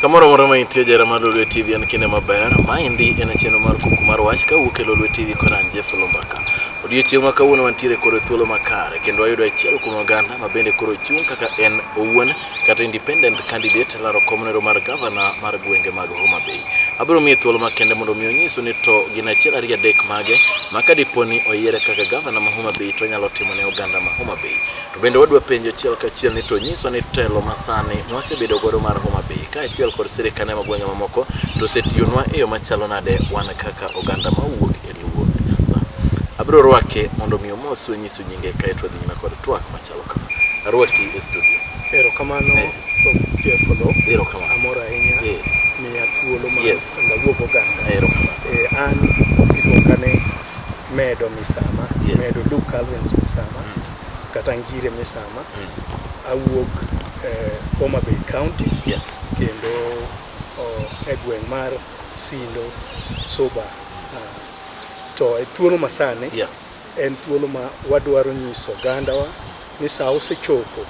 Kamoro moro ma intie jera mar Lolwe TV en kinde maber. Maendi en chenro mar kuku mar wach ka wuok e Lolwe TV kod an Jeff Lumbaka. Odiechieng' ma kawuono wantiere koro e thuolo makare kendo wayudo achiel kuom oganda ma bende koro chung' kaka en owuon kata independent candidate laro komnero mar gavana mar gwenge mag Homa Bay. Abiro miye thuolo makende mondo mi onyisu ni to gin achiel ariyo adek mage ma ka dipo ni oyiere kaka gavana ma Homa Bay to onyalo timo ne oganda ma Homa Bay. To bende wadwa penjo achiel kachiel ni to nyiso ni telo masani mwasebedo godo mar Homa Bay kaachiel kod sirikane magwenge mamoko to osetiyonwa e yo machalo nade wan kaka oganda mawuok e Luo Nyanza. Abiro rwake mondo mi omos wenyiso nyinge kae to nyime kod twak machalo kama. Arwaki e studio. Erokamano eh. Jeff Odho. Erokamano. Amor ahinya. Eh. Miya thuolo ma yes. ndawuog oganda. Erokamano. Eh, an iluonga ni Medo Misama. Yes. Medo Luke Calvins Misama. Mm. kata Ngire Misama. Awuok eh, Homa Bay County Yeah. kendo oh, e gweng' mar Sindo Suba. Ah, To e thuolo masani Yeah. en thuolo ma wadwaro nyiso ogandawa ni saa osechopo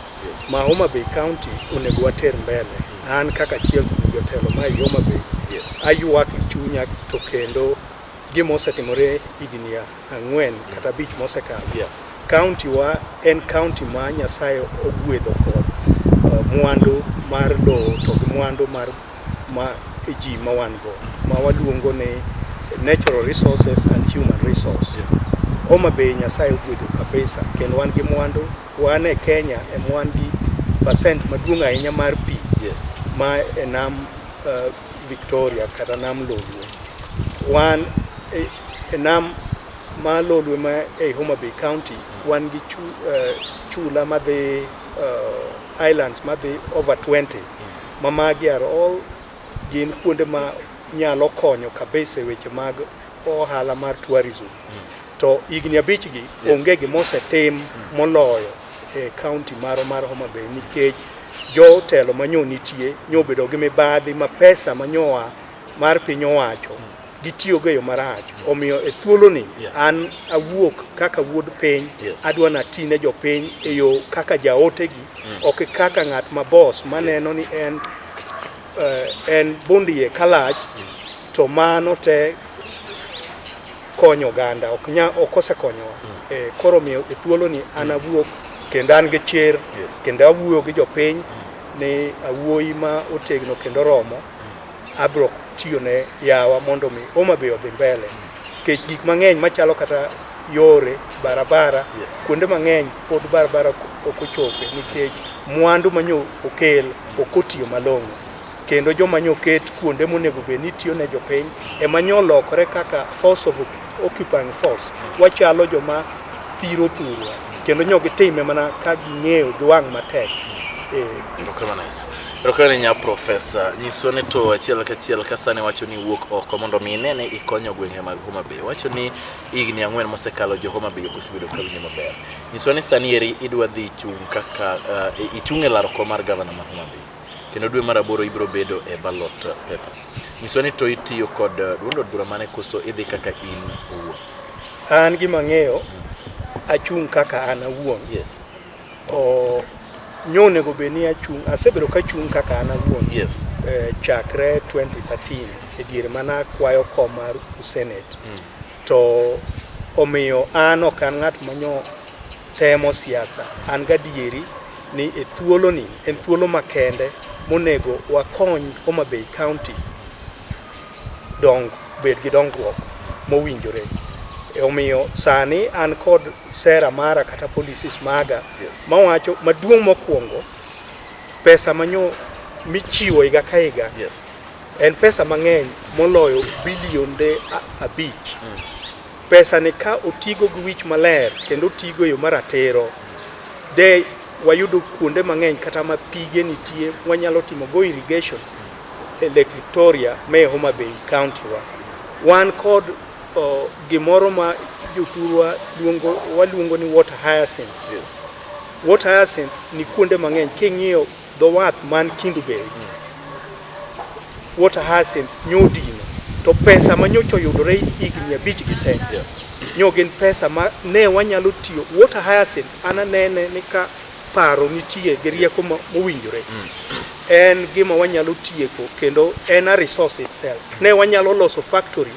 ma Homa Bay County onego water mbele. An kaka achiel kuom jotelo ma ei Homa Bay Yes. aywak e chunya to kendo gima osetimore higni a- ang'wen kata abich mosekalo yeah. kaunti wa en kaunti ma Nyasaye ogwedho kod uh, mwandu mar lowo to gi mwandu mar ma ji ma wan go ma waluongo ni natural resources and human resource yeah. Homa Bay Nyasaye ogwedho kabisa kendo wan gi mwandu wan e Kenya e mwan gi percent maduong' ahinya mar pi yes. ma e nam uh, Victoria kata nam Lolwe. Wan e, e nam ma Lolwe ma ei Homa Bay County wan gi chu, uh, chula madhi uh, islands madhi over 20 ma magi are all gin kuonde ma nyalo konyo kabisa e weche mag ohala mar tourism. to higni abich gi onge gima osetim moloyo e kaunti maro mar Homa Bay nikech jotelo manyo nitie nyobedo gi mibadhi ma pesa manyoa mar piny owacho gitiyogo e yo marach omiyo e thuoloni an awuok kaka wuod piny adwa nati ne jopiny e yo kaka jaotegi ok kaka ng'at ma bos maneno ni en Eh, en bondie kalach to mano te konyo oganda ok nya ok osekonyowa mm. eh, koro miyo e thuolo ni an awuok kendo an gi chir kendo awuoyo gi jopiny mm. ni awuoyi ma otegno kendo romo mm. abro tiyo ne yawa mondo mi Homa Bay odhi mbele Kech gik mang'eny machalo kata yore barabara yes. Kuonde mang'eny pod barabara ok ochope nikech mwandu manyo okel ok otiyo malong'o kendo joma nyo ket kuonde monego bed ni tiyo ne jopiny ema nyo lokore kaka force of occupying force wachalo joma thiro thurwa kendo nyo gitime mana ka ging'eyo giwang' matek. Eh. Rokane nya profesa, nyiswa ni to achiel kachiel ka sani wacho ni wuok oko mondo mi inene ikonyo gwenge mag Homa Bay. Wacho ni higni ang'wen mosekalo jo Homa Bay okosebedo ka winyo maber. Nyiswa ni sani eri idwa dhi chung' kaka uh, ichung' e laro kom mar gavana ma Homa Bay. Kendo dwe mar aboro ibiro bedo e ballot paper. Nyiswa ni to itiyo kod uh, duond od bura mane koso idhi kaka in owuon. An gima ng'eyo achung' kaka an awuon. Yes. Nyo onego bed ni achung' asebedo ka achung' kaka an awuon yes. eh, chakre 2013 e diere mana akwayo kom mar senate mm. to omiyo an ok an ng'at manyo temo siasa an gadieri ni e thuoloni en thuolo makende monego wakony Homa Bay County dong bed gi dongruok mowinjore e omiyo sani an kod sera mara kata policies maga yes. mawacho maduong' mokwongo pesa manyo michiwo higa ka higa yes. en pesa mang'eny moloyo bilionde abich mm. pesa ni ka otigo gi wich maler kendo otigo yo maratiro de wayudo kuonde mang'eny kata ma pige nitie wanyalo timo go irrigation e Lake Victoria me Homa Bay County wa wan kod oh, gimoro ma jothurwa luongo waluongo ni water hyacinth yes. water hyacinth ni kuonde mang'eny king'iyo dho wath man Kindu Bay mm. water hyacinth nyodino to pesa ma nyocha oyudore higni abich gi te yeah. nyo gin pesa ma ne wanyalo tiyo water hyacinth ananene ni ka paro nitie gi rieko mo- mowinjore en gima wanyalo tieko kendo en a resource itself ne wanyalo loso factory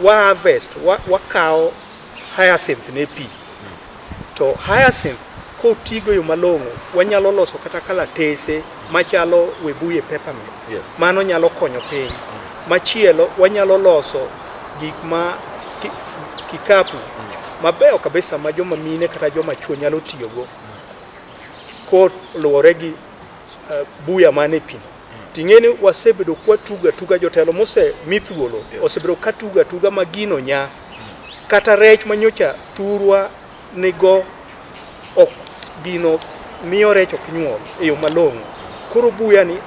wa harvest wa- wakawo hyacinth ne pi to hyacinth kotigo yo malong'o wanyalo loso kata kalatese machalo webuye peppermint Yes. mano nyalo konyo piny machielo wanyalo loso Gik ma kikapu mabeyo kabisa ma joma mine kata joma chwo nyalo tiyogo koluwore gi uh, buya man e pino ting'e ni wasebedo kwatugo atuga jotelo mose mi thuolo osebedo katugo atuga ma gino nya kata rech manyocha thurwa nigo ok gino miyo rech ok nyuol e yo malong'o. Koro buya ni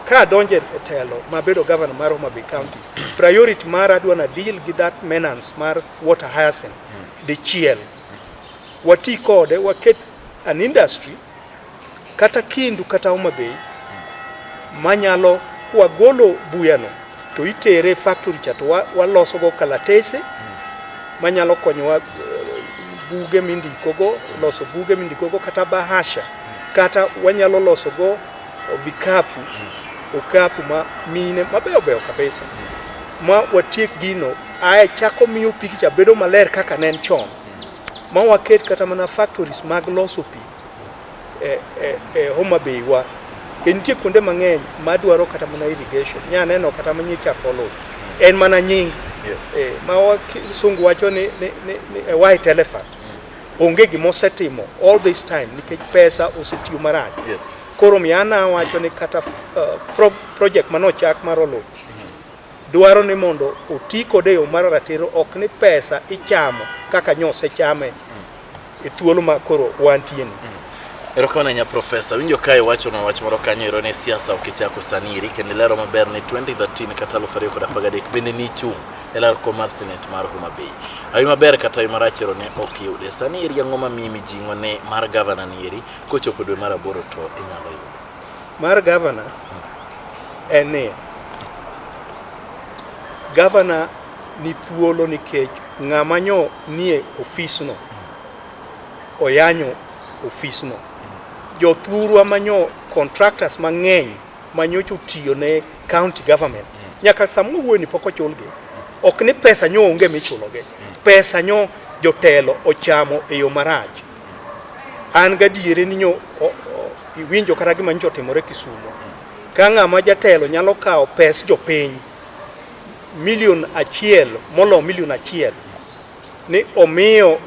ka adonje e telo ma bedo gavana mar Homa Bay County, priority mar adwa na deal gi that maintenance mar water hyacinth dichiel. Wati kode waket an industry kata Kindu kata Homa Bay manyalo wagolo buyano to itere factory cha to walosogo kalatese manyalo konyowa eh, buge mindikogo loso buge mindikogo kata bahasha kata wanyalo losogo vikapu okapu ma mine mabeyo beyo kabisa ma watiek gino ae chako miyo pikicha bedo maler kaka ne en chon ma waket kata mana factories mag loso pi e, e, e Homa Bay wa ke nitie kuonde mang'eny ma dwaro kata mana irrigation nya neno kata manye chako lowo en mana nying yes. e, ma sungu wacho ni, ni, ni, ni a white elephant mm. onge gima osetimo all this time nikech pesa osetiyo marach yes. koro miana wacho ni kata uh, pro, project manochak mar oloch dwaro ni mondo oti kode e yo mar ratiro, ok ni pesa ichamo kaka nyosechame e thuolo ma koro wantieni. Mm. Erokamano ahinya Profesa. Winjo ka iwacho na wach moro kanyo ero ni siasa ok ichako sani iri kendo ilero maber ni 2013 kata 2013 bende ni chung' e lar kom mar senate mar Homa Bay. Awi maber kata awi marach ero ne ok yude. Sani iri ang'o ma miyi mijing'o ne mar gavana ni eri kochopo dwe mar aboro to inyalo yudo. Mar gavana en ni gavana ni thuolo nikech ng'ama nyo nie ofisno oyanyo ofisno. Jothurwa manyo contractors mang'eny manyocha otiyo ne county government nyaka sama wuoyni pok ochulgi ok ni pesa nyo onge michulogi pesa nyo jotelo ochamo e yo marach An gadiere ni nyo iwinjo kata gima nyocha otimore Kisumo. Ka ng'ama jatelo nyalo kawo pes jopiny milion achiel molo milion achiel ni omiyo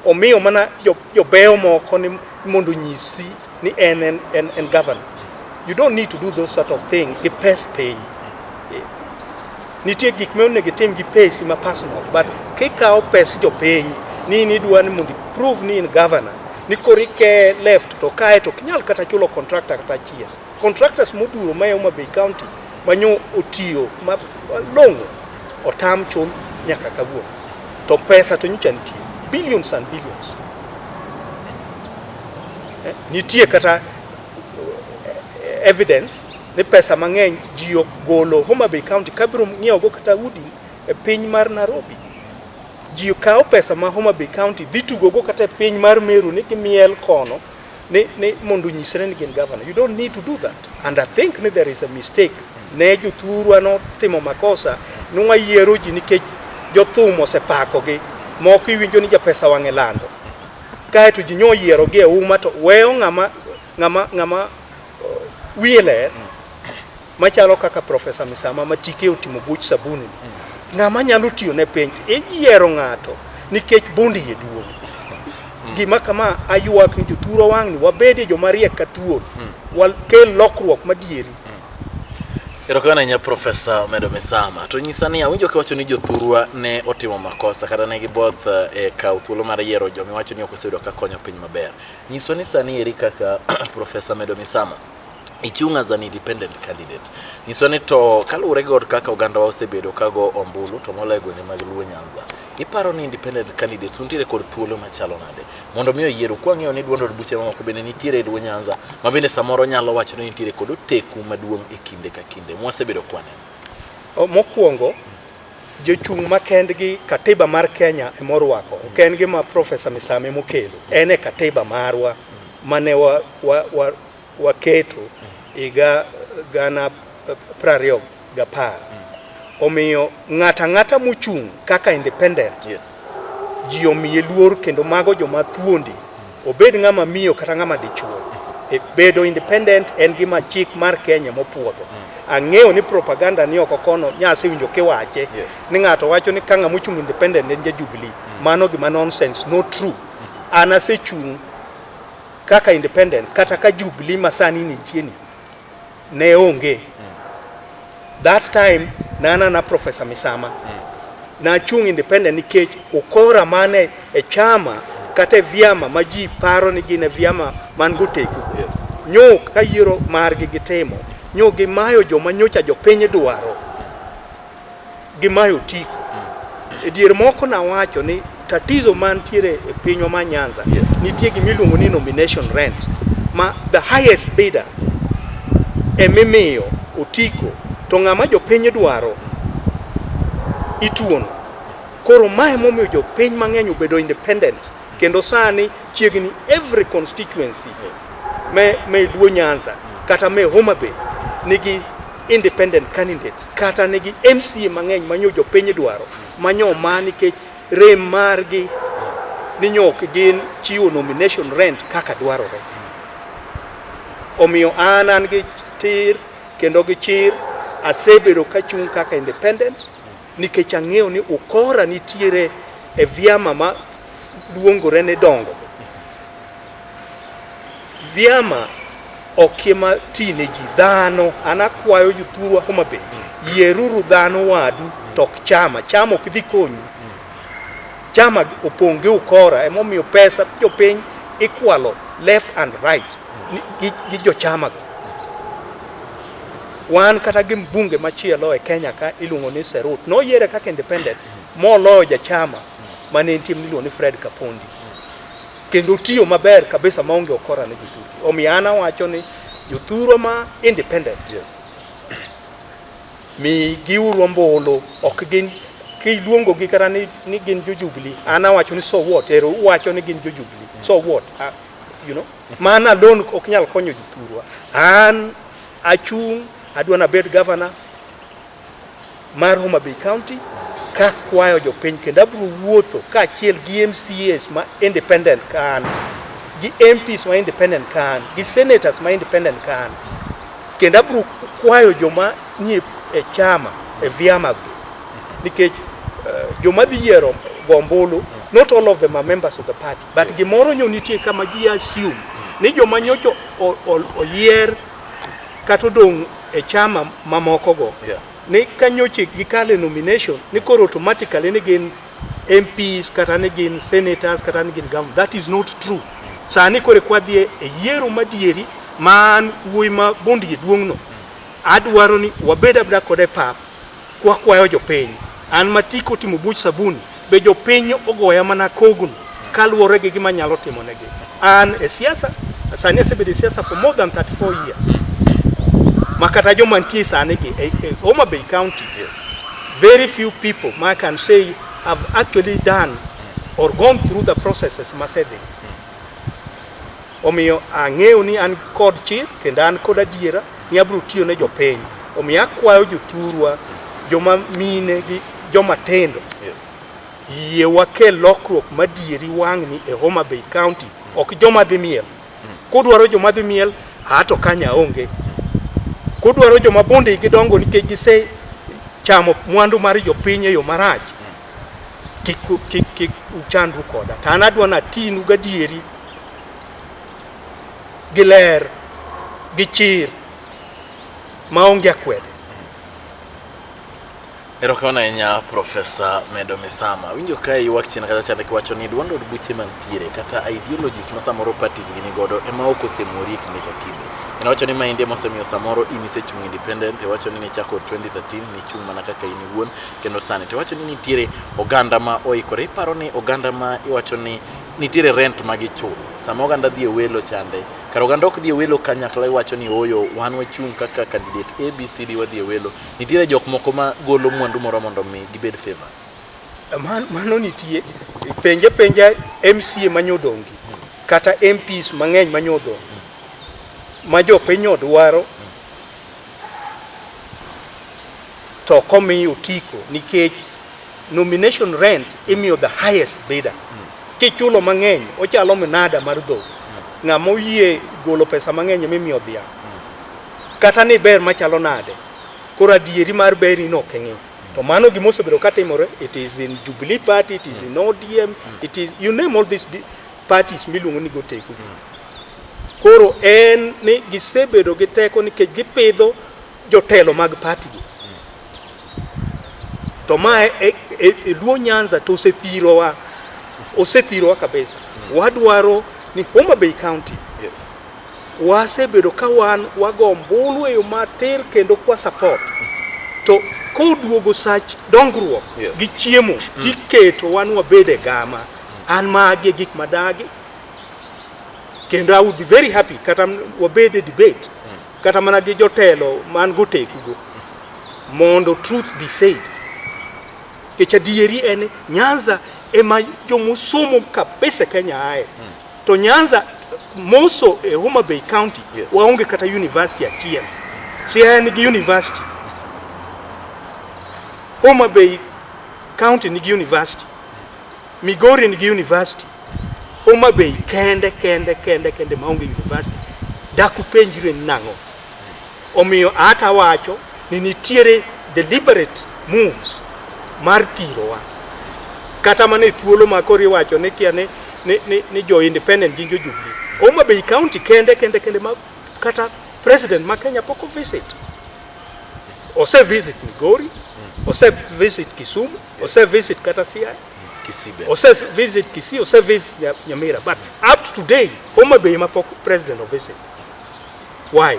omiyo mana jobeyo moko ni mondo onyisi ni en en, en, en governor you don't need to do those sort of thing gi pes piny Eh, nitie gik ma onego itim gi pesi ma personal but kikawo pes jopiny ni nidwa ni mondo prove ni in governor ni koro ike left to kae to kinyal kata chulo contractor kata achiel contractors modhuro ma e Homa Bay County manyo otiyo ma long'o otam chul nyaka kawuono to pesa to nyocha nitie billions and billions Eh, nitie kata eh, evidence ni pesa mang'eny ji golo Homa Bay County kabiro ng'iewogo kata udi e piny mar Nairobi. Ji kawo pesa ma Homa Bay County dhi tugogo kata e piny mar Meru ni gimiel kono ni, ni mondo nyisre ni gin governor. You don't need to do that. And I think ni there is a mistake. Ne jothurwa notimo makosa ni wayiero ji nikech jothum osepakogi moko iwinjo ni japesa wang'e lando kae to ji nyo yiero gi e uma to weyo ng'ama ng'ama ng'ama uh, wiye ler machalo kaka profesa Misama ma tike otimo buch sabuni ng'ama nyalo tiyo ne piny iyiero ng'ato nikech bondi ye duong gima kama ayuak ni jothuro wang'ni wabedie joma riek ka thuol wakel lokruok madieri Erokamano ahinya Profesa Omedo Misama. To nyisa ni awinjo kiwacho ni jothurwa ne otimo makosa kata ne giboth eh, e kawo thuolo mar yiero joma iwacho ni ok oseyudo ka konyo piny maber. Nyiswa ni sani eri kaka Profesa Omedo Misama ichung' as an independent candidate. Nyiswa ni to kaluwore gi od kaka ogandawa osebedo kago ombulu to moloyo gwenge mag Luo Nyanza. Iparo ni independent candidates untiere kod thuolo machalo nade? mondo mi oyieru kwang'eyo ni duond od buche mamoko bende nitiere e dwo Nyanza ma bende samoro nyalo wacho ni nitiere kod oteku maduong' e kinde ka kinde mwasebedo kwaneno. Mokwongo jochung' ma kendgi katiba mar Kenya e morwako ok en gima Profesa Misame mokelo en e katiba marwa mane wa, wa, wa, waketo higa gana prariyo gapar omiyo ng'ata ng'ata mochung' kaka independent yes. ji omiye luor kendo mago joma thuondi obed ng'ama miyo kata ng'ama dichuo e bedo independent en gima chik mar Kenya mopuodho mm. ang'eyo ni propaganda ni oko kono nyase winjo kiwache yes. ni ng'ato wacho ni kang'a mochung' independent en ja Jubilee mm. mano gima nonsense no true mm. an asechung' Kaka independent kata ka Jubilee ma sani nitie ni ne onge mm. that time nana na Professor Misama mm. na chung independent nikech ukora mane e chama kata e vyama ma ji paro ni gin e vyama man gotegu yes. nyo ka yiero margi gitimo nyo gimayo joma nyocha jopiny dwaro gi Mayo Tiko. Mm. E dier moko nawacho ni tatizo mantiere e pinywa ma Nyanza yes. nitie gima iluongo ni nomination rent ma the highest bidder emimiyo otiko to ng'ama jopiny dwaro ituono. Koro mae momiyo jopiny mang'eny obedo independent. Kendo sani chiegni every constituency me, me Luo Nyanza kata me Homa Bay nigi independent candidates kata nigi MCA mang'eny manyo jopiny dwaro manyo ma nikech rem margi ni nyok gin chiwo nomination rent kaka dwarore. Omiyo an an gi tir kendo gi chir asebedo ka chung' kaka independent Nikech ang'eyo ni ukora nitiere e vyama ma luongore ni dongo. Vyama okie ma ti ne ji dhano, an akwayo jothurwa Homa Bay, yieruru dhano wadu to ok chama. Chama ok dhi konyu. Chama opong' gi ukora, emomiyo pesa jopiny ikwalo left and right ni- gi, gi jochamago. Wan kata gi mbunge machielo e Kenya ka iluongo ni Serut noyiere kaka independent moloyo jachama mane entie miluongo ni Fred Kapondi kendo tiyo maber kabisa maonge okora ne jothuru. Omiyo an awacho ni jothuru ma independent yes. mi giuru ombulu ok gin kiluongo gi kata ni, ni gin jo Jubilee an awacho ni so what ero uwacho ni gin jo Jubilee so what uh, you know Man alone ok nyal konyo ji thurwa. An achung' adwa nabed gavana mar Homa Bay County ka kwayo jopiny kendo abro wuotho kaachiel gi MCAs ma independent ka an gi MPs ma independent ka an gi senators ma independent ka an kendo abro kwayo joma nie e chama e vyama go nikech uh, joma dhi yiero gombulu not all of them are members of the party But yes. gimoro nyo nitie kama ji assume ni joma nyocha oyier kata odong' e chama mamokogo yeah. ni ka nyocha gikale nomination ni koro automatically ni gin MPs kata ni gin senators kata ni gin governor. That is not true. Sani kore kwadhi e yiero madieri man wuoyi ma bundgi duong'no, adwaro ni wabed abda kode pap Kwakwayo jopiny, an matiko timo buch sabuni, be jopiny ogoya mana kogno kaluwore gi gima nyalo timo negi. An e siasa, sani asebedo e siasa for more than 34 years. Ma kata joma nitie sani gi e, e Homa Bay County, yes. very few people ma can say have actually done or gone through the processes masedhi Omiyo ang'eyo ni an kod chir kendo an kod adiera ni abiro tiyo ne jopiny. Omiyo akwayo jothurwa, joma mine gi joma tindo, yie wakel lokruok madieri wang'ni e Homa Bay County, ok joma dhi miel. Kudwaro joma dhi miel, a to kanya onge. Kudwaro joma bonde gidongo nikech gise chamo mwandu mar jopiny e yo marach, kik, kik, kik uchandru koda to an adwa natinu gadieri gi ler gi chir maonge akwede Erokamano ahinya Profesa Medo Misama. Winjo ka ywak chien kata chande kiwacho ni duond od buche mantiere kata ideologies ma samoro parties gini godo ema ok osemori e kinde ka kinde. En wacho ni ma inde mosemiyo samoro in isechung independent, iwacho ni nichako 2013 nichung' mana kaka in iwuon kendo sani to iwacho ni nitiere oganda ma oikore iparo ni oganda ma iwacho ni nitiere rent ma gichulo sama oganda dhi e welo chande kar oganda ok dhi e welo kanyakla iwacho ni oyo wan wachung' kaka candidate abcd wadhi e welo nitiere jok moko ma golo mwandu moro mondo mi gibed favor Man- mano nitie penje penja mca manyodongi kata mps mang'eny manyodongi ma jopiny odwaro to komi otiko nikech nomination rent imiyo the highest bidder mm. kichulo mang'eny ochalo minada mar dho mm. ng'ama oyie golo pesa mang'eny mimiyo dhia mm. kata ni ber machalo nade koro adieri mar beri no keng'e mm. to mano gima osebedo katimore it is in Jubilee party it is in ODM mm. it is you name all these parties miluongo ni goteko mm. koro en ni gisebedo gi teko nikech gipidho jotelo mag party go to ma e, e, e, e Luo Nyanza to osethirowa osethirowa kabisa mm. wadwaro ni Homa Bay County yes. wasebedo ka wan wago mbulu e yo matir kendo kwa support to koduogo sach dongruok yes. gi chiemo mm. tiketo wan wabed e gama an magi gik madagi kendo I would be very happy kata wabed e debate kata mana gi jotelo man gotekugo mondo truth be said kech adieri en nyanza ema jomosomo kabisa kenya aye hmm. to nyanza moso e homa bay county yes. waonge kata university achiel si en gi university homa bay county nigi university Migori nigi university, Homa Bay kende kende kende kende maonge university. Dak upenjru en nang'o? Omiyo ata wacho ni nitiere deliberate moves mar thirowa kata mana e thuolo ma koro iwacho ni kia ni, ni, ni, ni jo independent gi jo Jubilee. Homa Bay County kende kende kende ma kata president ma Kenya pok o visit. Ose visit Migori, ose visit Kisumu, Ose visit kata CI. Kisibe. Ose visit Kisii, ose visit Nyamira. But up to today, Homa Bay mapok president of visit. Why?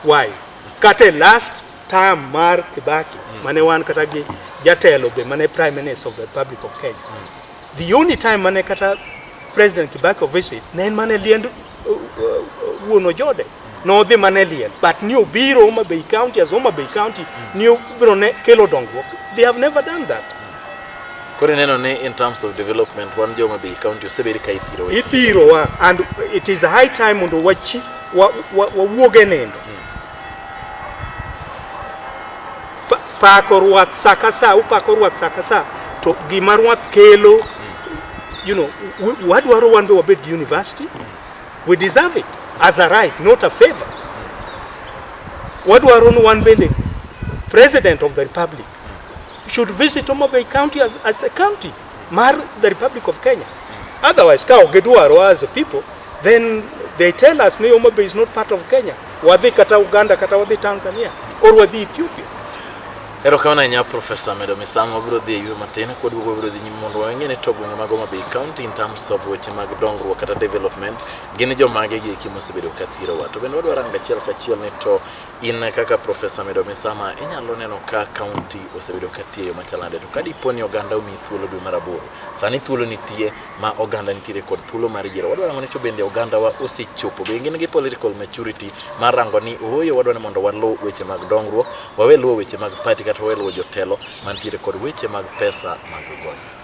Why? Kate last term mar Kibaki, mm. mane wan kata gi jatelo be mane prime minister of the Republic of Kenya. Mm. The only time mane kata president Kibaki of visit, ne en mane liendo wuon ojode nodhi mana e liel but ni obiro Homa Bay County as Homa Bay County ni obiro ne kelo dongruok they have never done that Koro ineno ni in terms of development wan jo Homa Bay County osebed ka ithirowa. ithirowa and it is high time mondo wachi wa- wa- wawuog e nindo pako ruath sa ka sa upako ruath sa ka sa to gima ruath kelo you know wadwaro wan be wabed gi university we deserve it as a right not a favor wadwaro ni wan bende president of the republic should visit Homa Bay County as, as a county mar the Republic of Kenya. Otherwise, ka onge dwaro as a people, then they tell us ni Homa Bay is not part of Kenya. Wadhi kata Uganda kata wadhi Tanzania or wadhi Ethiopia. Erokamano ahinya Profesa Medo Misamo, wabiro dhi e yuro matin kod wuogo wabiro dhi nyime mondo wang'e ni to gwenge mag Homa Bay County in terms of weche mag dongruok kata development gin jomage gi eki mosebedo ka thirowa to bende wadwaro rango achiel kachiel ni to In kaka Profesa Medo Misama, inyalo neno ka kaunti osebedo ka tiyo yo machal nade, to ka dipo ni oganda omi thuolo dwe mar aboro, sani thuolo nitie ma oganda nitiere kod thuolo mar yiero. Wadwa rango ni to bende ogandawa osechopo, be gin gi political maturity mar rango ni ooyo wadwa ni mondo waluw weche mag dongruok, wawe luwo weche mag party kata wawe luwo jotelo mantiere kod weche mag pesa mag gonyo.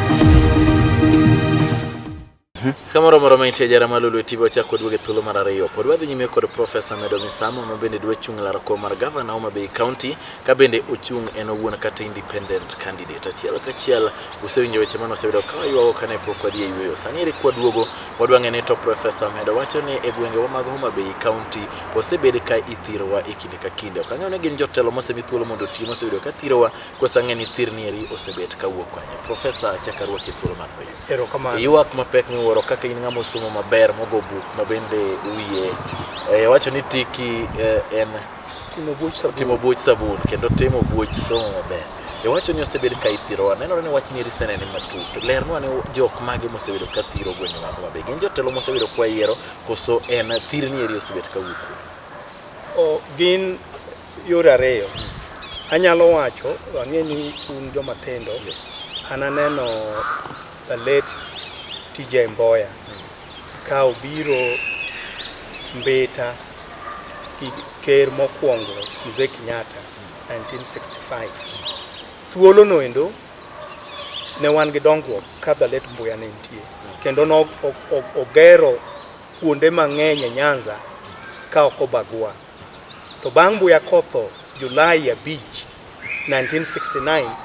Kamoro moro ma intie jara malulu e TV wachako duoge thuolo mar ariyo. Pod wadhi nyime kod Profesa Medo Misamo ma bende dwa chung' laro kom mar gavana Homa Bay County ka bende ochung' en owuon kata independent candidate. Achiel kachiel usewinjo weche mane osebedo ka waywago kane pok wadhi e yueyo. Sani eri kwa duogo wadwa ng'e ni to Profesa Medo wacho ni e gwengewa mag Homa Bay County osebed ka ithirowa e kinde ka kinde. Ok ang'eyo ni gin jotelo mosemi thuolo mondo oti mosebedo ka thirowa Kosang'e ni thir nieri osebet kawuok kanye. Profesa achaka ruoki thuolo mar penjo. Erokamano. Ywak mapek miwuoro kaka in ng'ama osomo maber mogo buk ma bende wiye eh, wacho ni tiki eh, en Timo buch sabun. timo buoch sabun kendo timo buoch somo maber. Iwacho ni osebed ka ithirowa. Nenore ni wach nieri senene matut. Lernwa ni jok mage mosebedo ka thiro gwenge magwa be. Gin jotelo mosebedo kwa yiero koso en thir nieri osebet kawuok kuno. O, gin Yore ariyo anyalo wacho, ang'e ni un joma tindo yes. ananeno the late TJ Mboya mm. ka obiro Mbeta gi ker mokwongo Mzee Kenyatta 1965. Thuolo no endo ne wan gi dongruok ka the late Mboya ne nitie kendo nogero kuonde mang'eny e Nyanza ka ok obagua. To bang' Mbuya Kotho, Julai 5, 1969,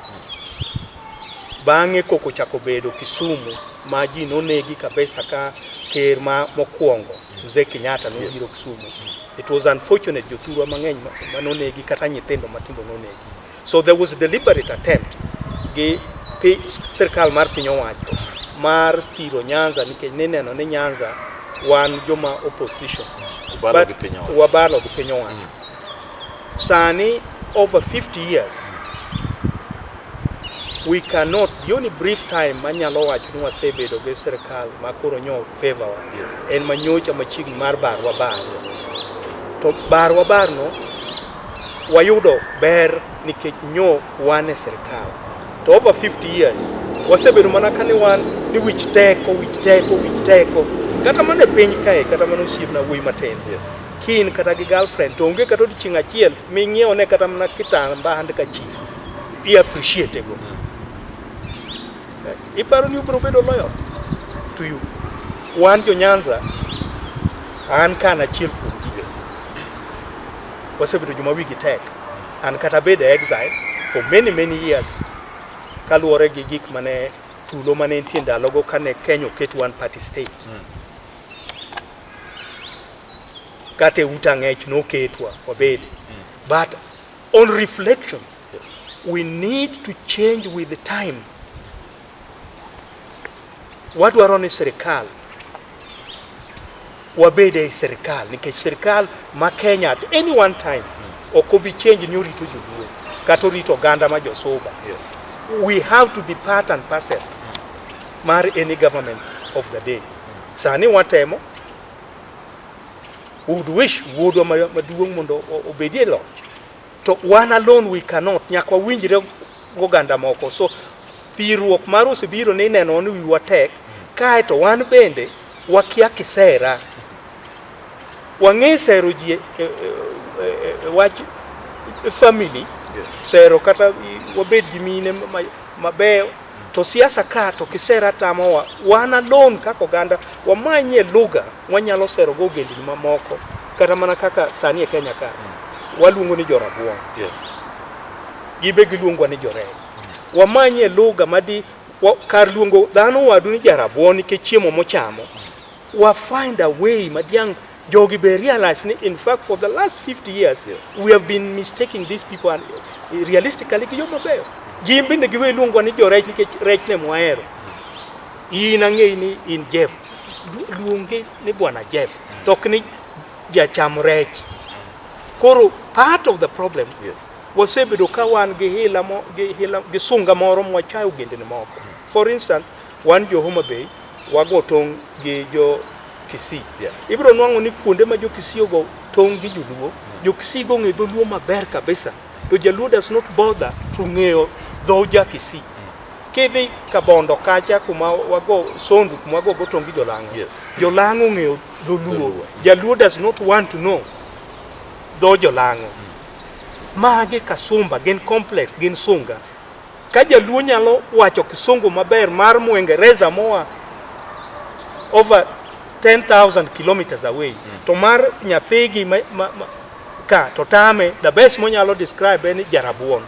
bang'e koko chako bedo Kisumu ma ji nonegi kabisa ka ker ma mokwongo Mzee Kenyatta nobiro Kisumu. It was unfortunate jothurwa mang'eny ma nonegi kata nyithindo matindo nonegi. So there was a deliberate attempt gi sirkal mar piny owacho mar thiro Nyanza nikech nineno ni Nyanza wan joma opposition wabalo gi piny owacho mm. sani over 50 years we cannot the only brief time manyalo wacho ni wasebedo gi sirkal ma koro nyo favor wa yes. en manyocha machiegni mar barwa barno to barwa barno Wayudo ber nikech nyo wan e sirkal to over 50 years wasebedo mana kani wan ni wich teko wich teko wich teko kata mana e piny kae kata mana osiepna wuoyi matin yes. kin kata gi girlfriend to onge kata odiochieng' achiel ming'iewo ne kata mana kitamba hand ka chief i appreciate go eh, iparo ni ubiro bedo loyal to you wan jo Nyanza an kana achiel kuom wasebedo joma wigi tek an kata bed e exile for many many years kaluwore gi gik mane tulo mane nitie ndalogo kane Kenya oket one party state mm. kata e uta ng'ech noketwa wabede mm. but on reflection yes. we need to change with the time Wadwaro ni sirkal wabed ei sirkal nikech sirkal ma Kenya at any one time ok obi change ni orito joluo kata orito oganda ma josuba. Yes. We have to be part and parcel mar any government of the day. Sani watemo would wish wuodwa maduong' mondo obedie loch To wan alone we cannot, nyaka wawinjre goganda moko. So thirruok mar osebiro ni ineno ni wiwa tek, kae to wan bende wakia kisera. Wang'e sero ji e, e, e, wach family, sero kata wabed gi mine mabeyo to siasa ka to kisera tamowa, wan alone kaka oganda wamanye lugha Wanyalo sero go ogendni mamoko kata mana kaka sani e Kenya ka mm. waluongo ni jorabuon. Yes. Gibe giluongwa ni jorech. Mm. Wamanye lugha madi wa, kar luongo dhano wadu ni jarabuon nikech chiemo mochamo. Mm. Wa find a way madiang jogi be realize ni in fact for the last 50 years yes. we have been mistaking these people and eh, realistically gijo mabeyo. Gin bende giwe luongwa ni jorech nikech rech ne mwahero. In ang'eyi ni in Jeff. Luonge ni Bwana Jeff. To ok ni jacham rech. Koro part of the problem yes. wasebedo ka wan gi hila mo, gi hila gi sunga moro mwachayo ogendni moko. For instance, wan jo Homa Bay wago tong' gi jo Kisii. Yeah. Ibiro nwang'o ni kuonde ma jo Kisii ogo tong' gi joluo, mm. jo Kisii go ng'e dholuo maber kabisa. To jaluo does not bother to ng'eyo dho jakisi. Kidhi kabondo kacha kuma wago sondu kuma wago gotongi jolang'o. Yes. Jolang'o ng'eyo dholuo. Dholuo. Jaluo does not want to know dho jolang'o. Magi kasumba gin complex gin sunga. Ka jaluo nyalo wacho kisungu maber mar muingereza moa over 10,000 kilometers away mm. to mar nyathigi ma, ma, ma, ka to tame the best monyalo describe en jarabuon mm.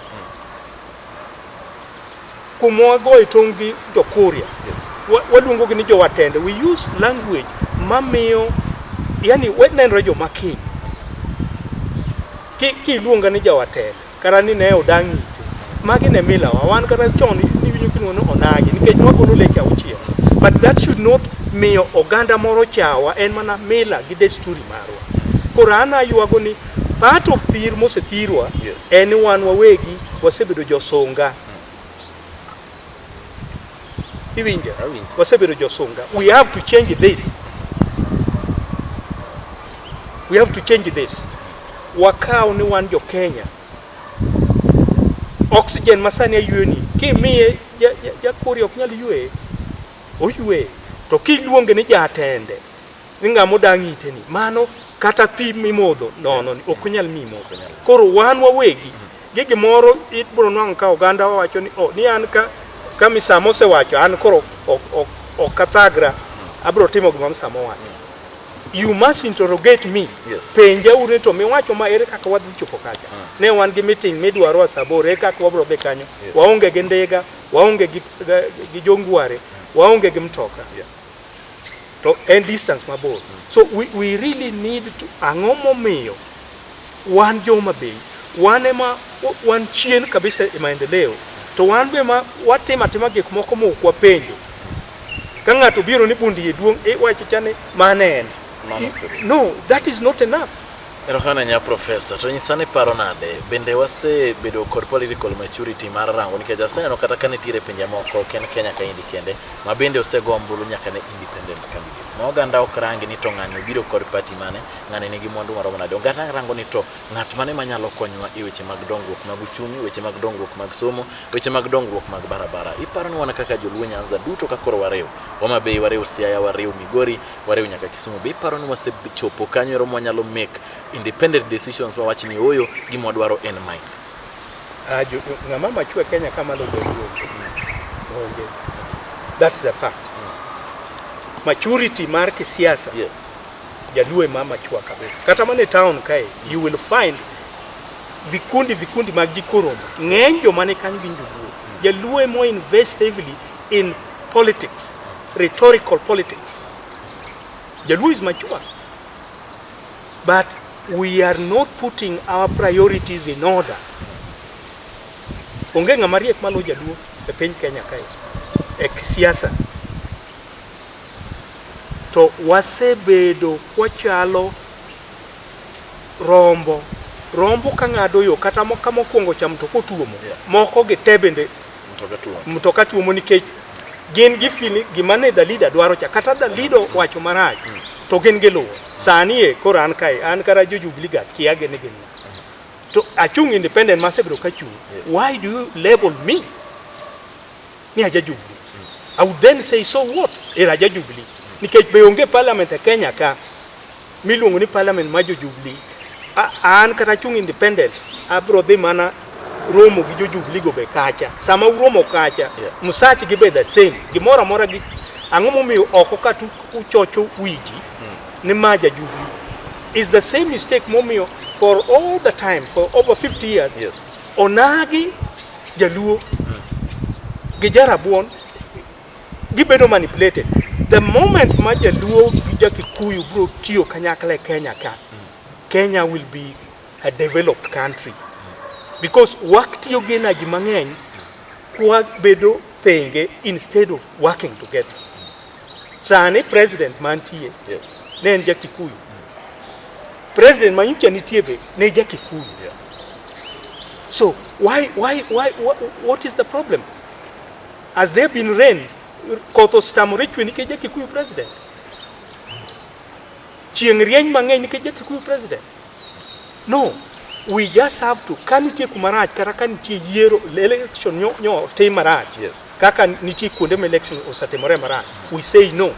kumwa go e tong' gi jokuria yes. waluongo gi ni jowatende we use language mamiyo yani wenenre joma kiny kiluonga ni jawatende Kara ni ne odang' ite. Magi ne milawa. Wan kata chon niwinjo kiluongo ni onagi nikech wagolo leke auchiel. But that should not miyo oganda moro chawa en mana mila gi desturi marwa. Koro an aywago ni part of thir mosethirwa Yes. en ni wan wawegi wasebedo josunga. Iwinjo, awinjo. Wasebedo josunga. We have to change this. We have to change this. Wakaw ni wan jo Kenya. Oxygen masani ayweni kimiye jakuri ok nyal ywe oywe to kiluonge ni jatende ni ng'ama odang' ite ni mano kata pi mimodho nono ni ok onyal mi modho koro wan wawegi gi gimoro ibro nwang'o ka oganda wacho ni oh, ni an ka ka misamo osewacho an koro ok ok ok athagra abro timo gima misamo wacho you must interrogate me Yes. penja ure to miwacho ma ere kaka wadhi chopo kacha ne wan gi meeting midwaro a saa aboro ere kaka wabro dhi kanyo waonge gi ndiga waonge gi, gi jongware waonge gi mtoka Yeah. to en distance mabor so we, we really need to ang'o momiyo wan joma bei wan ema wan chien kabisa e maendeleo to wan be ma watimo atima gik moko ma ok wapenjo ka ng'ato biro ni bundi e duong' iwacho chane mane en no that is not enough Erokamano ahinya Professor. To nyisa ni paro nade? Bende wasebedo kod political maturity mar rango nikech aseneno kata ka nitiere pinje moko ok en Kenya kaendi kende ma bende osego ombulu nyaka ne independent candidates. Ma oganda ok rangi ni to ng'ani obiro kod party mane, ng'ani nigi mwandu maromo nade. Oganda rango ni to ng'at mane manyalo konyowa e weche mag dongruok mag uchumi, weche mag dongruok mag somo, weche mag dongruok mag barabara. Iparo ni wan kaka joluo Nyanza duto ka koro wariw, Homa Bay wariw, Siaya wariw, Migori wariw nyaka Kisumu. Be iparo ni wasechopo kanyo ero mwanyalo make independent decisions ma wach ni oyo gima wadwaro en mae? Ah, jo- jo- ng'ama machwe Kenya kama logo onge. That's the fact. Maturity mar kisiasa Yes. jaluo ema machwa kabisa. Kata mana e town kae you will find vikundi vikundi mag jikoromo. Ng'eny joma ne kanyo gin joluo. Jaluo ema invest heavily in politics, rhetorical politics. Jaluo is mature, but we are not putting our priorities in order. Onge ng'ama riek malo jaluo e piny Kenya kae e siasa to wasebedo kwachalo rombo rombo ka ng'ado yo kata mo- ka mokwongo cham to kotuomo moko gi te bende Mtoka tuomo nikech gin gi fili gima ne Dalida dwaro cha kata Dalido wacho marach mm. to gin gi luwo sani e koro an kae an kara jo Jubilee gat kia gene gin to achung independent ma sebro ka chung yes. why do you label me ni aja Jubilee mm. I would then say so what era aja Jubilee nikech be onge parliament e Kenya ka miluongo ni parliament ma jo Jubilee. A- An kata chung independent abro dhi mana romo gi jo Jubilee go be kacha. Sama uromo kacha, Yeah. msach gi be the same. Gimoro amora gi ang'o momiyo oko ka tu uchocho wiji ni ma ja Jubilee. Is the same mistake momiyo for all the time for over 50 years. Yes. Onagi jaluo gi jarabuon Gibedo manipulated. The moment ma Jaluo gi Jakikuyu bro tiyo kanyakla e Kenya ka, Kenya will be a developed country because waktiyo gi energy mang'eny kwa bedo thenge instead of working together. Sani president mantie yes. ne en Jakikuyu president manyicha nitie be ne Jakikuyu yeah. so why, why, why, what, what is the problem? Has there been rain? Koth ostamore chwe nikech Jakikuyu president. Chieng' rieny mang'eny nikech Jakikuyu president. No, we just have to ka nitie kuma rach kata ka nitie yiero election nyo, nyo tim marach yes. kaka nitie kuonde ma election osatimore marach we say no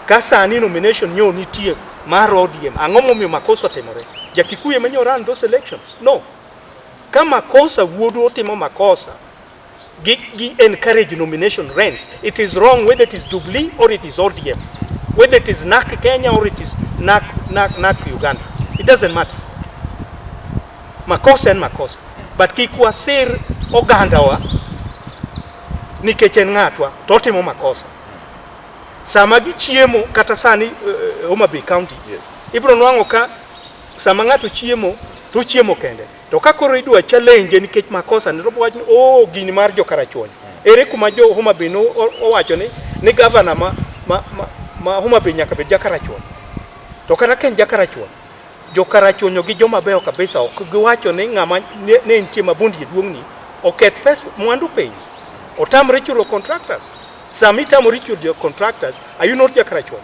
ka sani nomination nyo nitie mar ODM ang'o momiyo makosa otimore jakikuye manyo run those elections no ka makosa wuodu otimo makosa Gi, gi encourage nomination rent. It is wrong whether it is Jubilee or it is ODM, whether it is NAC Kenya or it is NAC, NAC, NAC Uganda. It doesn't matter. Makosa en makosa, but kik wasir ogandawa nikech en ng'atwa to otimo makosa. Sama gichiemo kata sani uh, Homa Bay County yes. ibiro nwang'o ka sama ng'ato chiemo to ochiemo kende To ka koro idwa challenge nikech makosa ne to wach ni oh gini mar jo karachuonyo. Ere kuma jo Homa Bay no owacho ni ni governor ma ma, ma, ma Homa Bay nyaka bed ja karachuonyo. To kata ken ja karachuonyo jo karachuonyo gi joma beyo kabisa ok giwacho ni ng'ama ne ne nitie mabundi e duong'ni oketh pes mwandu piny otamre chulo contractors sami tamori chulo contractors are you not ja karachuonyo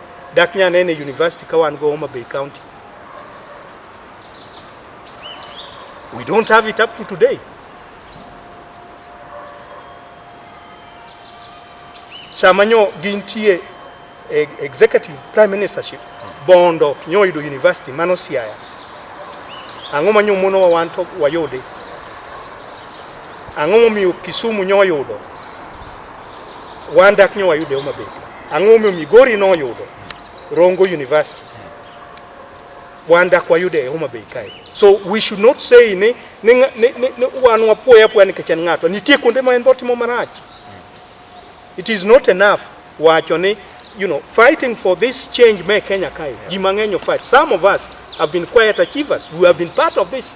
Dak nya nene university ka wan go Homa Bay County. We don't have it up to today. Sama nyo gintie e, executive prime ministership bondo nyo yudo university mano siaya ang'o manyo mono wan to wayude ang'o momiyo Kisumu nyoyudo Wan dak nyo wayude Homa Bay. Ang'o momiyo Migori noyudo Rongo University? Wan dak wayude e Homa Bay kae. So we should not say ni ni, nga- ni, ni, ni wan wapuoya apuoya nikech en ng'atwa. Nitie kuonde ma en be otimo marach. It is not enough wacho ni you know fighting for this change me Kenya kae. Ji mang'eny o fight. Some of us have been quiet achievers. We have been part of this.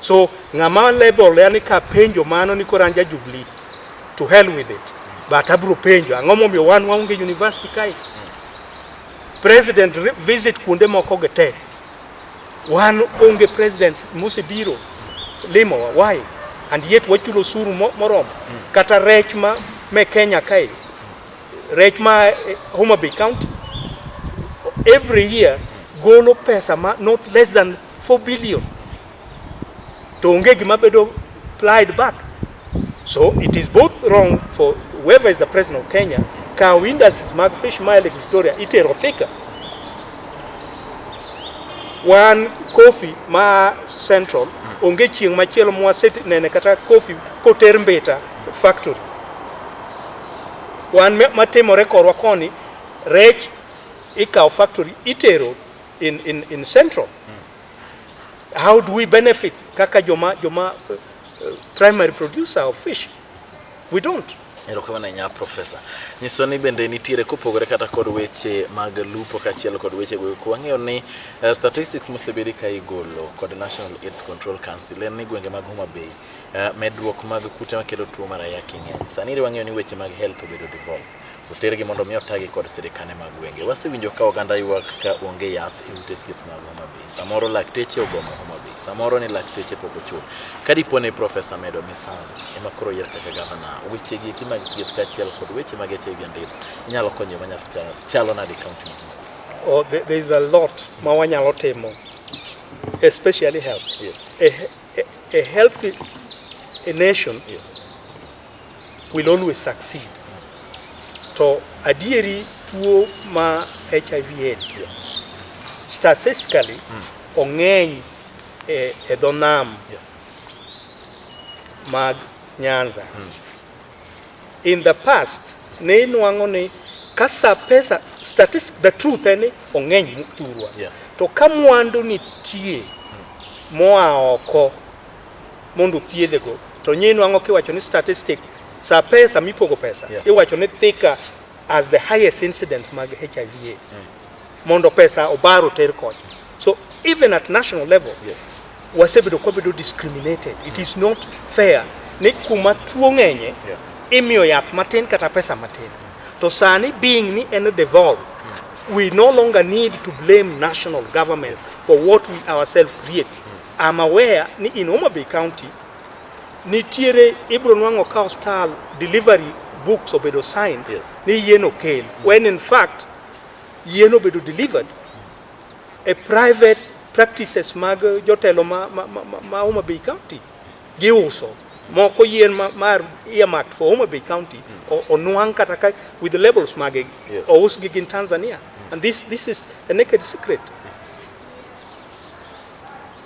So ng'ama level yani ka penjo mano ni koro an ja Jubilee to hell with it but abro penjo ang'o momiyo wan waonge university kae president re- visit kuonde moko gi te wan onge presidents mosebiro limowa why and yet wachulo osuru mo- moromo kata rech ma me Kenya kae rech ma eh, Homa Bay County every year golo pesa ma not less than 4 billion to onge gima bedo applied back so it is both wrong for whoever is the president of Kenya kawo industries mag fish mile Lake Victoria itero Thika wan coffee ma central onge chieng' machielo mwasenene kata coffee koter Mbita factory wan me- matimore korwa koni rech ikawo factory itero in, in, in central mm. how do we benefit kaka joma joma uh, uh, primary producer of fish we don't erokamano nya profesa nyiso ni bende nitiere kopogore kata kod weche mag lupo kaachiel kod weche go wang'eyo ni uh, statistics mosebedi ka igolo kod national aids control council en ni gwenge mag homa bay uh, medruok mag kute makelo tuo mar ayaki ng'eny sani wang'eyo ni weche mag health obedo devolve otergi mondo mi otagi kod sirikane mag gwenge. Wasewinjo ka oganda ywak ka onge yath e ute thieth mag Homa Bay. Samoro lakteche ogomo Homa Bay, samoro ni lakteche pok ochul. Ka dipo ni Profesa Medo Misango ema koro oyier kaka gavana, weche gi eki mag thieth kaachiel kod weche mag HIV and AIDS inyalo konyo manyalo chalo nade kaunti ma Oh, there, there is a lot ma wanyalo timo especially health. Yes. A, a, a healthy a nation yes. will always succeed. To adieri tuo ma HIV AIDS statistically mm. ong'eny e, e dho nam yeah. mag Nyanza mm. in the past ne inwang'o ni kasa pesa statistic the truth en ni ong'eny thurwa yeah. to ka mwandu nitie mm. moa oko mondo thiedhe go to nyinyi nwango kiwacho ni statistic sa pesa mipogo pesa yeah. iwacho ni thika as the highest incident mag HIV AIDS mm. mondo pesa obaro ter kocha so even at national level yes. wasebedo kwabedo discriminated mm. it is not fair ni kuma tuo ng'enye yeah. imiyo yath matin kata pesa matin to sani being ni en devolve mm. we no longer need to blame national government for what we ourselves create I'm aware ni in Homa Bay County nitiere ibro nwang'o ka hostal delivery books obedo signed yes. ni yien okel mm. when in fact yien obedo delivered a private practices mag jotelo ma, ma, ma, ma Homa Bay County giuso moko yien ma, ma earmarked for Homa Bay County mm. onwang' kata ka with the labels mage yes. ousgi gin Tanzania mm. and this, this is a naked secret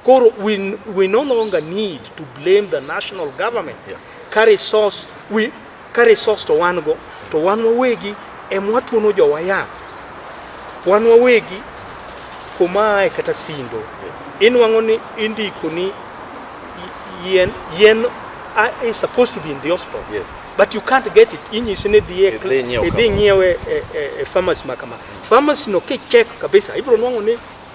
Koro we, we no longer need to blame the national government yeah. ka resource we ka resource to wan go to wan wawegi em watuono jowa yath wan wawegi kumae kata sindo yes. inwang'o ni indiko ni yen yen uh, is supposed to be in the hospital yes. but you can't get it inyisi ni dhie idhi nyiewe e, e, e pharmacy makama pharmacy no kichek kabisa ibiro nwang'o ni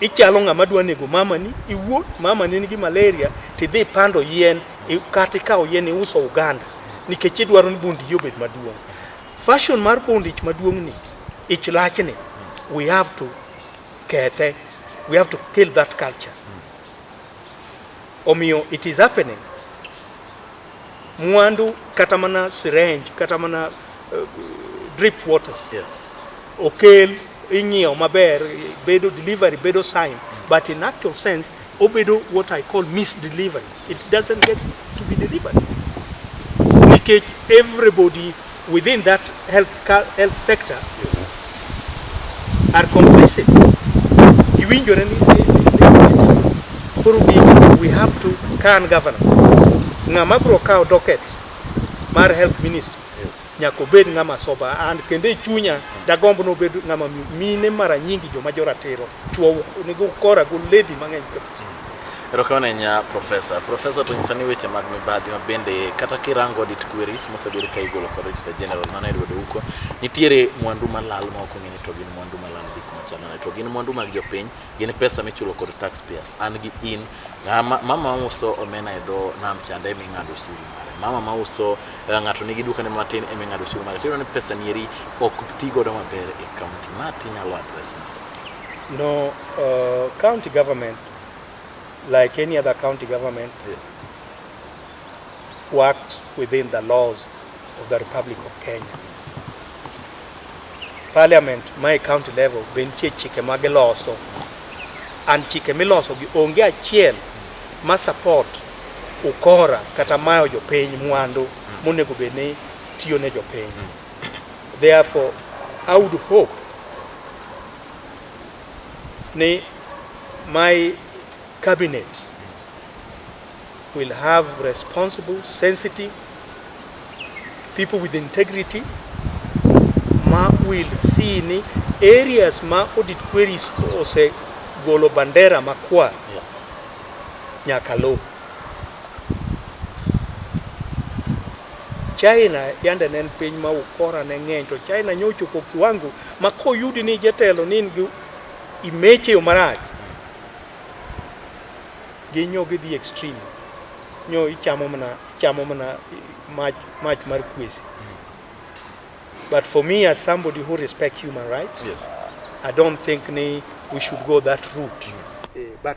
Ichalo ng'ama dwa nego mamani, iwuot mamani nigi malaria, tidhi pando yien kata ikawo yien iuso Uganda nikech idwaro ni Bondiji obed maduong'. Fashion mar Bondich maduong'ni, ich lachni, we have to kethe, we have to kill that culture. Omiyo it is happening. mwandu kata mana syringe kata mana uh, drip waters yeah. okel inyiewo maber bedo delivery bedo sign mm. but in actual sense obedo what I call misdelivery it doesn't get to be delivered nikech everybody within that health, health sector are complicit. Giwinjore ni koro we have to can governor. Ng'ama bro kawo docket mar health minister nyaka obed ng'ama soba and kendo e chunya dagomb nobed ng'ama mine mara nyingi joma joratiro Chwo onego ukora go lady mang'eny kabisa. Erokamano ahinya Profesa. Profesa to nyisa ni weche mag mibadhi ma bende kata kirango audit queries mosebedo ka igolo kod Auditor General mano e lwedo huko, nitiere mwandu malal ma ok ong'e ni to gin mwandu malal gik machal nade to gin mwandu mag jopiny, gin pesa michulo kod taxpayers. An gi in, ng'a ma- mama mauso omena e dho nam chande ema ing'ado osuru mare. Mama mauso eh, ng'ato nigi dukane matin ema ing'ado osuru mare. To iyudo ni pesa nieri ok ti godo maber e kaunti. Ma tinyalo address nade? No, uh, county government, like any other county government, yes. worked within the laws of the Republic of Kenya. Parliament, my county level, bentie chike ma giloso. And chike miloso gi onge achiel ma support ukora kata mayo jopiny mwandu monego bed ni tiyo ne jopiny. Mm. Therefore, I would hope ni my cabinet will have responsible, sensitive people with integrity ma will see ni areas ma audit queries ose golo bandera makwar nyaka lo China yande ne en piny ma ukora ne ng'eny to China nyo ochopo kiwango ma koyudi ni jatelo ni in gi imeche yo marach ginyo gidhi extreme nyo ichamo mana ichamo mana mach mach mar kwesi but for me as somebody who respect human rights Yes. I don't think ni we should go that route Eh, but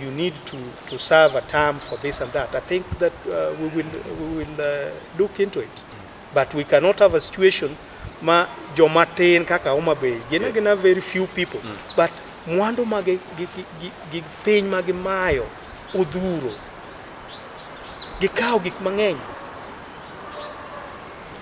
You need to, to serve a term for this and that. I think that uh, we will, we will uh, look into it. But we cannot have a situation ma joma tin kaka Homa Bay gina yes. gina very few people mm. but mwandu ma gi, gi, gi, gi piny ma gimayo odhuro gikawo gik mang'eny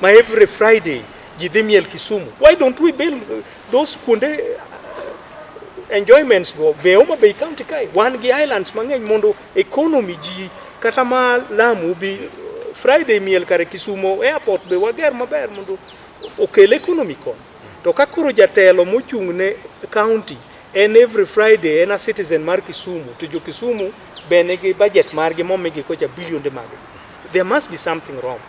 ma every Friday ji dhi miel Kisumu why don't we build Those kuonde uh, enjoyments go be Homa Bay County kae wan gi islands mang'eny mondo economy ji kata ma Lamu bi Friday miel kare Kisumo airport be wager maber mondo okel economy kon. To ka koro jatelo mochung' ne county en every Friday en a citizen mar Kisumu to jo Kisumu be nigi budget margi momigi kocha bilionde mag. There must be something wrong.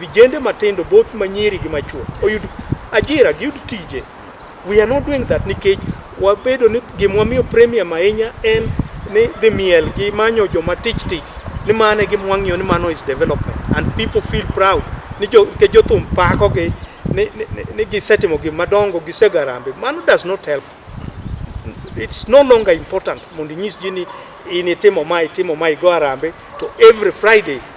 Vijende matindo both manyiri gi machuo oyud ajira, giyud tije. We are not doing that nikech wabedo ni gimwa miyo premium ahinya en ni dhi miel gi manyo joma tich tich ni mano e gima wang'iyo ni mano is development and people feel proud ni jo ke jothum pako gi ni, ni, ni, ni gisetimo gik madongo gisegarambe mano does not help it's no longer important mondo inyis ji ni in itimo ma itimo ma igo arambe to every friday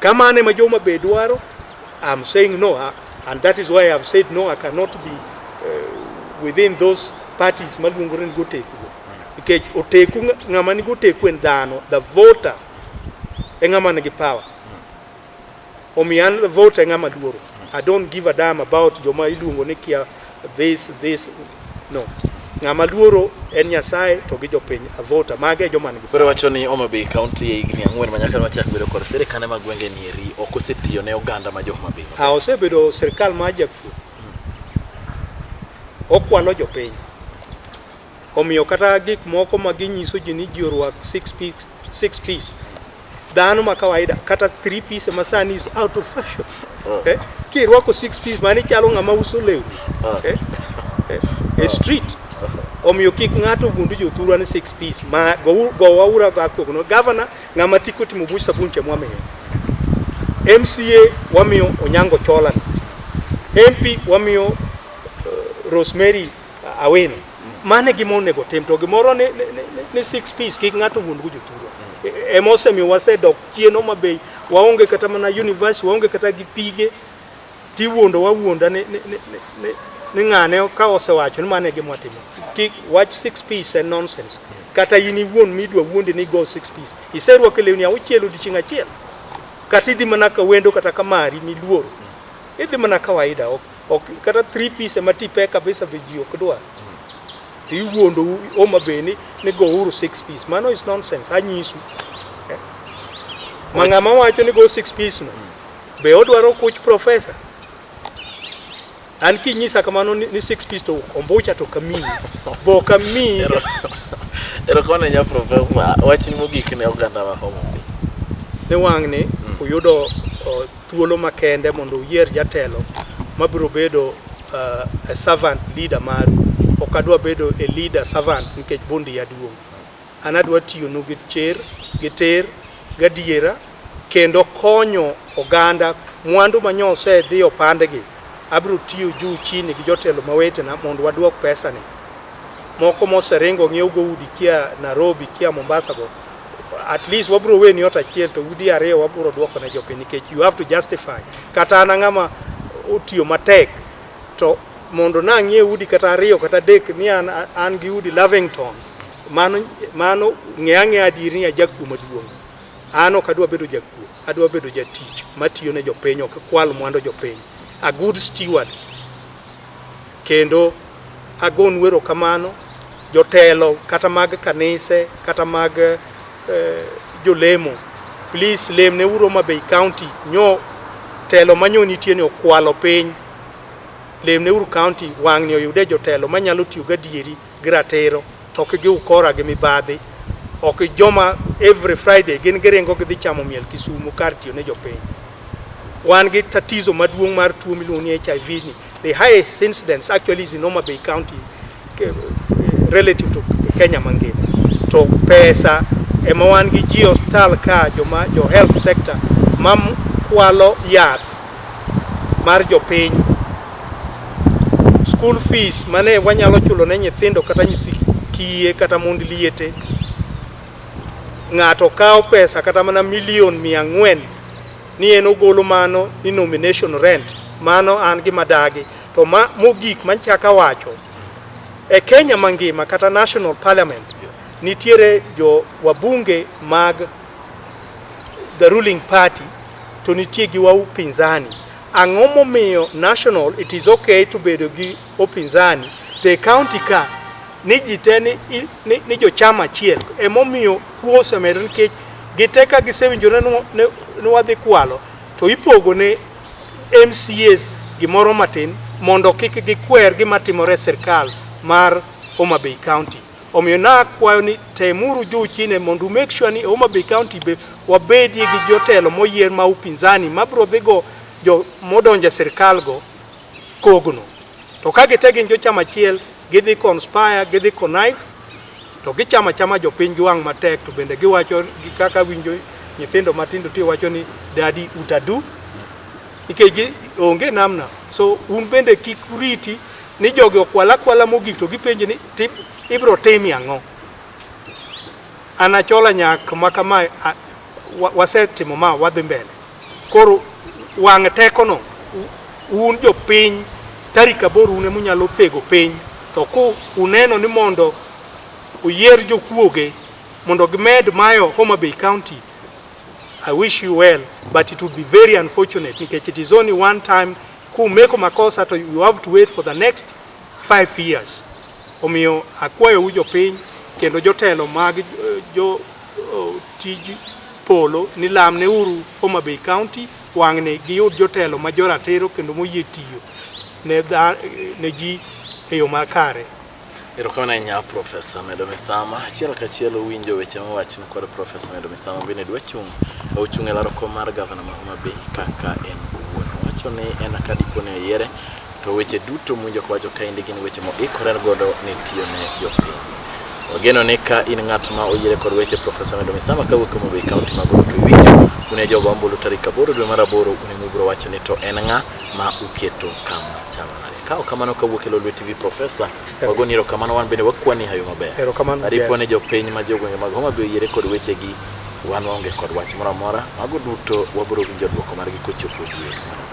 Kama ane ma joma be dwaro, I'm saying no, uh, and that is why I've said no, I cannot be uh, within those parties maluongore ni goteku. Nikech oteku ng'ama ni goteku en dhano, the voter e ng'ama nigi power. Omiyo an the voter e ng'ama luoro. I don't give a damn about joma iluongo ni kia This, this, no. Ng'ama luoro en Nyasaye to gi jopiny avota mage joma nigi. Koro wacho ni Homa Bay County e higni ang'wen manyaka machak bedo kod sirkal ma gwenge ni eri ok osetiyo ne oganda ma jo Homa Bay. Ah, osebedo sirkal ma jakuo. Okwalo jopiny. Omiyo kata gik moko ma ginyiso ji ni ji orwak six piece, six piece dhano ma kawaida kata three piece ma sani is out of fashion oh. eh? kirwako six piece mani chalo ng'ama uso lewni oh. eh? eh? e street omiyo kik ng'ato ogundu jothurwa ni six piece ma gowaura bakogono gavana ng'ama tiko timo buch sabun cha mwamiyo mca wamiyo onyango cholan mp wamiyo uh, rosemary Awino. Mane gima onego tim to gimoro ni, ni, ni, ni six piece kik ng'ato wuond go jothurwa. E- Ema osemiyo wasedok chien Homa Bay, waonge kata mana university, waonge kata gi pige, tiwuondo wawuonda ni, ni, ni, ni, ni, ni ng'ane ka osewacho ni mane gima watimo. Kik wach six piece en nonsense. Kata in iwuon midwa wuondi ni go six piece. Iserwako lewni auchiel odiechieng' achiel. Kata idhi mana ka wendo kata ka mari miluoro. Idhi mana kawaida ok ok kata three piece ma tipe kabisa be ji ok dwar to iwuondou Homa Bay ni ni gouru six piece mano is nonsense anyisu Eh. ma ng'ama wacho ni go six piece no be odwaro kuch profesa an kinyisa kamano ni ni six piece to ombucha to kamiyi be ok amiyi Erokamano ahinya Profesa. Wachni mogik ne oganda ma Homa Bay. ne wang'ni uyudo o, thuolo makende mondo uyier jatelo mabiro bedo uh, a servant leader maru ok adwa bedo a leader servant nikech bundi yaduong' an adwa tiyonu gi cher gi ter gadiera kendo konyo oganda mwandu manyo osedhi opandgi abiro tiyo juu chini gi jotelo mawetena mondo waduok pesani moko moseringo ng'iewogo udi kia Nairobi kia Mombasa go at least wabro weni ot achiel to udi ariyo wabro duoko ne jopiny nikech you have to justify kata an ang'ama otiyo matek to mondo nang'ie udi kata ariyo kata adek ni an, an gi udi Lavington mano mano ng'e ang'e adier ni ajakuo maduong' an ok adwa bedo jakuo adwa bedo jatich matiyo ne jopiny ok kwal mwandu jopiny a good steward kendo Agonu erokamano jotelo kata mag kanise kata mag eh, jolemo please lemne uro ma Bay County nyo telo manyo nitie ni okwalo piny lemne uru county wang'ni oyude jotelo manyalo tiyo gadieri gi ratiro to ok gi ukora gi mibadhi ok joma every Friday gin giringo gidhi chamo miel Kisumu kar tiyo ne jopiny wan gi tatizo maduong' mar tuo miluongo ni HIV ni The highest incidence actually is in Homa Bay County eh, relative to Kenya mangima. To pesa ema wan gi ji hospital ka joma jo health sector ma kwalo yath mar jopiny school fees mane wanyalo chulo ne nyithindo kata nyithi kiye kata mond liete ng'ato kawo pesa kata mana milion mia ang'wen ni en ogolo mano ni nomination rent mano an gi madagi to ma mogik manchaka wacho e Kenya mangima kata national parliament nitiere jo wabunge mag the ruling party to nitie gi wau pinzani ang'o momiyo national it is okay to bedo gi Upinzani to e kaunti ka ni ji te ni, ni, ni jochama achiel emomiyo kuo osemedore nikech gite ka gisewinjore ni wadhi kwalo to ipogo ne MCAs gimoro matin mondo kik gikwer gima timore e sirkal mar Homa Bay County. Omiyo nakwayo ni temuru juu chini mondo make sure ni Homa Bay County be wabedie gi jotelo moyier ma upinzani mabiro dhigo jo modonjo e sirkalgo kogno. To ka gite gin jochama achiel, gidhi conspire, gidhi connive, to gichama chama jopiny gi wang' matek, to bende giwacho gi kaka winjo nyithindo matindo ti wacho ni dadi utadu, nikech gi onge namna. So un bende kik uriti ni jogi okwala kwala mogik to gipenji ni ibro timi ang'o? An Achola nyak ma kama wasetimo ma wadhi mbele. Koro wang' tekono un jopiny tarik aboro une munyalo thego piny to ku uneno ni mondo uyier jokuoge mondo gimed mayo Homa Bay County I wish you well but it would be very unfortunate nikech it is only one time kumeko makosa to you have to wait for the next five years Omiyo akwayou jopiny kendo jotelo mag eh, jo oh, tij polo ni lamne uru Homa Bay County wang'ni giyud jotelo ma joratiro kendo moyie tiyo ne, dha, ne ji e yo makare. Erokamano ahinya Profesa Medo Misama. Achiel kachiel uwinjo weche mowachni kod Profesa Medo Misama bende dwa chung' ochung' e laro kom mar gavana ma Homa Bay kaka en owuon. Owacho ni en ka dipo ni oyiere To weche duto mwinjo kawacho kaendi gin weche moikore godo ni tiyo ne jopiny. Wageno ni ka in ng'at ma oyiere kod weche Profesa Medo Misama kawuok e Homabay County mago duto iwinjo une jogo ambulu tarik aboro dwe mar aboro une mubiro wacho ni to en ng'a ma uketo kama chalo nade. Ka ok kamano kawuok e Lolwe TV Profesa wagoni erokamano wan bende wakwani hayo maber. Erokamano. Aripo ni jopiny ma jogwenge mag Homabay oyiere kod wechegi wan waonge kod wach moro amora. Mago duto wabiro winjo dwoko margi kochopo dwe mar aboro.